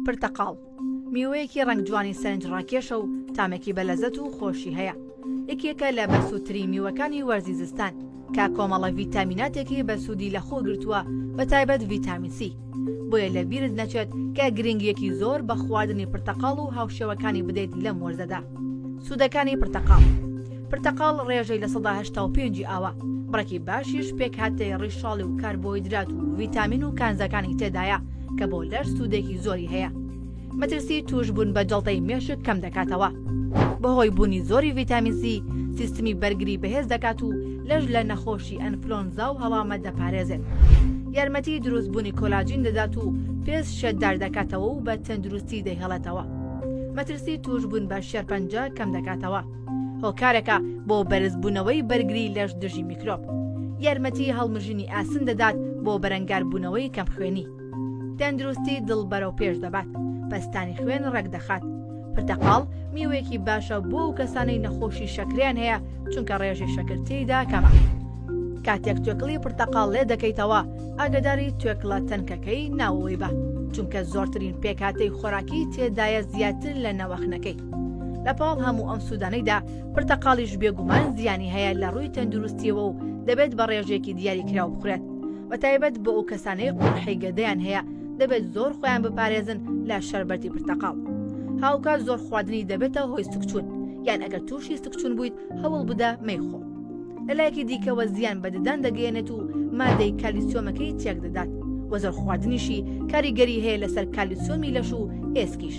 پرتەقاڵ، میوەیەکی ڕەنگ جوانی سەرنج ڕاکێشە و تامێکی بە لەزەت و خۆشی هەیە. یەکێکە لە بەسوودترین میوەکانی وەرزی زستان، کە کۆمەڵە ڤیتامیناتێکی بەسوودی لە خۆ گرتووە بە تایبەت ڤیتامین سی. بۆیە لە بیرت نەچێت کە گرنگییەکی زۆر بە خواردنی پرتەقاڵ و هاوشێوەکانی بدەیت لەم وەرزەدا. سوودەکانی پرتەقاڵ. پرتەقاڵ ڕێژەی لە سەدا هەشتا و پێنج ی ئاوە، بڕێکی باشیش پێکهاتەی ڕیشاڵی و کاربۆیدرات و ڤیتامین و کانزاکانی تێدایە کە بۆ لەش سوودێکی زۆری هەیە. مەترسی تووشبوون بە جەڵتەی مێشک کەم دەکاتەوە. بەهۆی بوونی زۆری ڤیتامین سی، سیستمی بەرگری بەهێز دەکات و لەش لە نەخۆشی ئەنفلۆنزا و هەڵامەت دەپارێزێت. یارمەتی دروستبوونی کۆلاجین دەدات و پێست شێتدار دەکاتەوە و بە تەندروستی دەیهێڵێتەوە. مەترسی تووشبوون بە شێرپەنجە کەم دەکاتەوە. هۆکارەکە بۆ بەرزبوونەوەی بەرگری لەش دژی میکرۆب یارمەتی هەڵمژینی ئاسن دەدات بۆ بەرەنگاربوونەوەی کەم خوێنی تەندروستی دڵ بەرەو پێش دەبات پستانی خوێن ڕێکدەخات پرتەقاڵ میوەیەکی باشە بۆ و کەسانەی نەخۆشی شەکریان هەیە چونکە ڕێژی شەکرتیدا کەمە کاتێک توێکڵی پرتەقاڵ لێ دەکەیتەوە ئاگداری توێکڵە تەنکەکەی ناوەوەی بە چونکە زۆرترین پێکاتەی خۆراکی تێدایە زیاتر لە نەوەخنەکەی لە پاڵ هەموو ئەم سوودانەیدا پرتەقاڵیش بێگومان زیانی هەیە لە ڕووی تەندروستیەوە و دەبێت بە ڕێژێکی دیاری کراو بخورێت بە تایبەت بۆ ئەو کەسانەی قوڕحی گەدەیان هەیە دەبێت زۆر خۆیان بپارێزن لە شەربەتی پرتەقاڵ هاوکات زۆر خواردنی دەبێتە هۆی سکچوون یان ئەگەر تووشی سکچون بوویت هەوڵ بدە مەیخۆ لە لایەکی دیکەوە زیان بە ددان دەگەێنێت و مادەی کالیسیۆمەکەی تێک دەدات وەزەر خواردنیشی کاریگەری هەیە لەسەر کالیسۆمی لەش و ئێسکیش